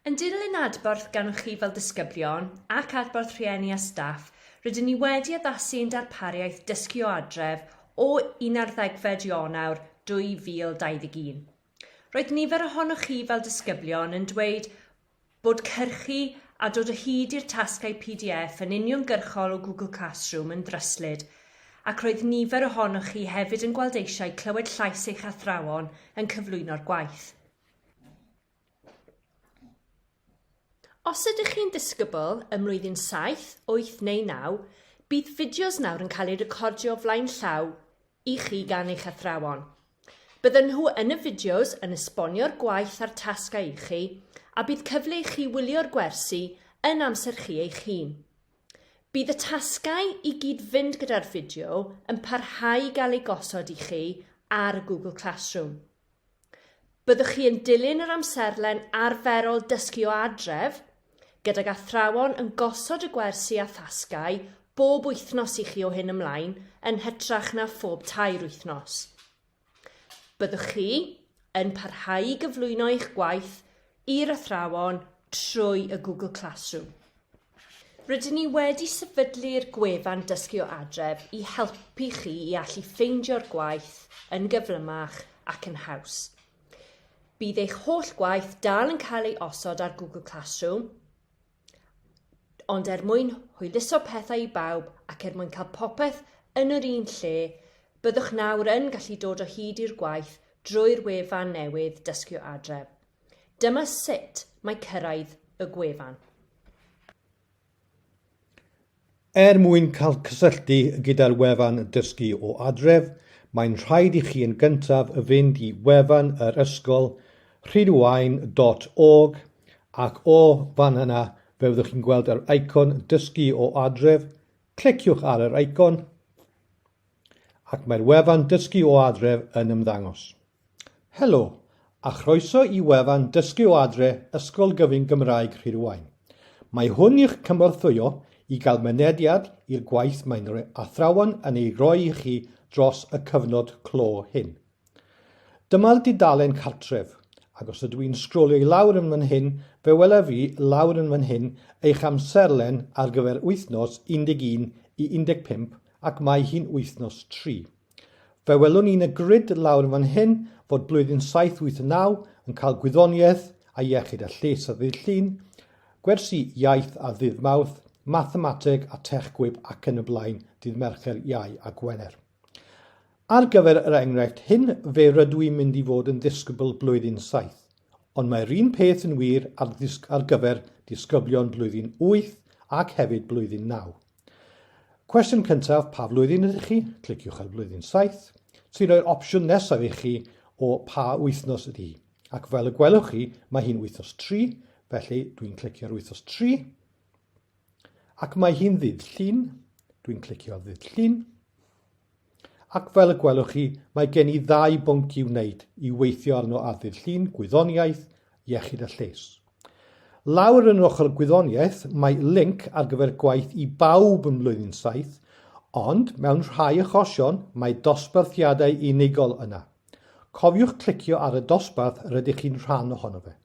Yn dilyn adborth gan chi fel disgyblion ac adborth rhieni a staff, rydyn ni wedi addasu ein darpariaeth Dysgu o Adref o un ar ddegfed Ionawr 2021. Roedd nifer ohonoch chi fel disgyblion yn dweud bod cyrchu a dod o hyd i'r tasgau pdf yn uniongyrchol o Google Classroom yn ddryslyd ac roedd nifer ohonoch chi hefyd yn gweld eisiau clywed llais eich athrawon yn cyflwyno'r gwaith. Os ydych chi'n disgybl ym mlwyddyn saith, wyth neu naw, bydd fideos nawr yn cael eu recordio flaen llaw i chi gan eich athrawon. Bydden nhw yn y fideos yn esbonio'r gwaith a'r tasgau i chi, a bydd cyfle i chi wylio'r gwersi yn amser chi eich hun. Bydd y tasgau i gyd fynd gyda'r fideo yn parhau i gael eu gosod i chi ar Google Classroom. Byddwch chi yn dilyn yr amserlen arferol dysgu o adref, gydag athrawon yn gosod y gwersi a thasgau bob wythnos i chi o hyn ymlaen yn hytrach na phob tair wythnos. Byddwch chi yn parhau i gyflwyno eich gwaith i'r athrawon trwy y Google Classroom. Rydyn ni wedi sefydlu'r gwefan Dysgu o Adref i helpu chi i allu ffeindio'r gwaith yn gyflymach ac yn haws. Bydd eich holl gwaith dal yn cael ei osod ar Google Classroom, ond er mwyn hwyluso pethau i bawb ac er mwyn cael popeth yn yr un lle, byddwch nawr yn gallu dod o hyd i'r gwaith drwy'r wefan newydd Dysgu Adref. Dyma sut mae cyrraedd y gwefan. Er mwyn cael cysylltu gyda'r wefan Dysgu o Adref, mae'n rhaid i chi yn gyntaf fynd i wefan yr ysgol, rhydwain dot org, ac o fan yna fe fyddwch chi'n gweld yr eicon Dysgu o Adref, cliciwch ar yr eicon ac mae'r wefan Dysgu o Adref yn ymddangos. Helo, a chroeso i wefan Dysgu o Adre Ysgol Gyfun Gymraeg Rhirwaun. Mae hwn i'ch cynorthwyo i gael mynediad i'r gwaith mae'n athrawon yn ei roi i chi dros y cyfnod clo hyn. Dyma'r dudalen cartref, ac os ydw i'n sgrolio i lawr yn fan hyn, fe welaf i lawr yn fan hyn eich amserlen ar gyfer wythnos 11 i 15 ac mae hi'n wythnos 3. Fe welwn ni yn y grid lawr yn fan hyn fod blwyddyn 789 yn cael gwyddoniaeth a iechyd a lles a ddydd Llun, gwersi iaith a ddydd Mawrth, mathemateg a tech gwib ac yn y blaen dydd Mercher, Iau a Gwener. Ar gyfer yr enghraifft hyn fe rydw i'n mynd i fod yn ddisgybl blwyddyn 7, ond mae'r un peth yn wir ar, ar gyfer disgyblion blwyddyn 8 ac hefyd blwyddyn 9. Cwestiwn cyntaf, pa flwyddyn ydych chi? Cliciwch ar flwyddyn 7, sy'n rhoi'r opsiwn nesaf i chi o pa wythnos ydy hi. Ac fel y gwelwch chi, mae hi'n wythnos 3, felly dwi'n clicio ar wythnos 3. Ac mae hi'n ddydd llun, dwi'n clicio ar ddydd llun. Ac fel y gwelwch chi, mae gen i ddau bwnc i'w wneud i weithio arno ar ddydd Llun, gwyddoniaeth, iechyd a lles. Lawr yn yr ochr gwyddoniaeth mae linc ar gyfer gwaith i bawb ym mlwyddyn saith, ond mewn rhai achosion mae dosbarthiadau unigol yna. Cofiwch clicio ar y dosbarth rydych chi'n rhan ohono fe.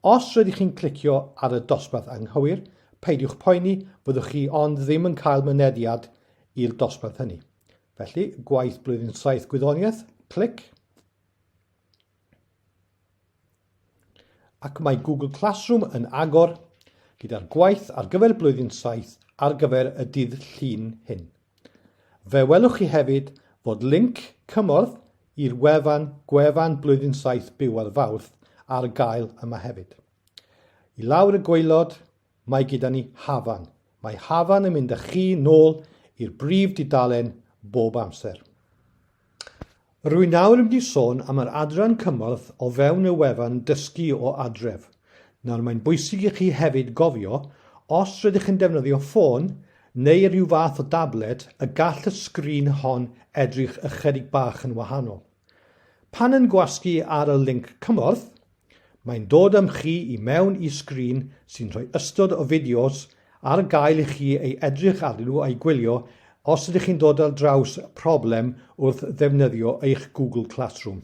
Os rydych chi'n clicio ar y dosbarth anghywir, peidiwch poeni, fyddwch chi ond ddim yn cael mynediad i'r dosbarth hynny. Felly, gwaith blwyddyn saith gwyddoniaeth, clic. Ac mae Google Classroom yn agor gyda'r gwaith ar gyfer blwyddyn saith ar gyfer y dydd Llun hyn. Fe welwch chi hefyd fod linc cymorth i'r wefan Gwefan Blwyddyn Saith Byw ar Fawrth ar gael yma hefyd. I lawr y gwaelod, mae gyda ni Hafan. Mae Hafan yn mynd â chi nôl i'r brif dudalen bob amser. Rwy'n nawr yn mynd i sôn am yr adran cymorth o fewn y wefan Dysgu o Adref. Nawr, mae'n bwysig i chi hefyd gofio, os rydych chi'n defnyddio ffôn neu rhyw fath o dablet, y gall y sgrin hon edrych ychydig bach yn wahanol. Pan yn gwasgu ar y linc cymorth, Mae'n dod â'm chi i mewn i sgrin sy'n rhoi ystod o fideos ar gael i chi ei edrych arnyn nhw a'u gwylio os ydych chi'n dod ar draws problem wrth ddefnyddio eich Google Classroom.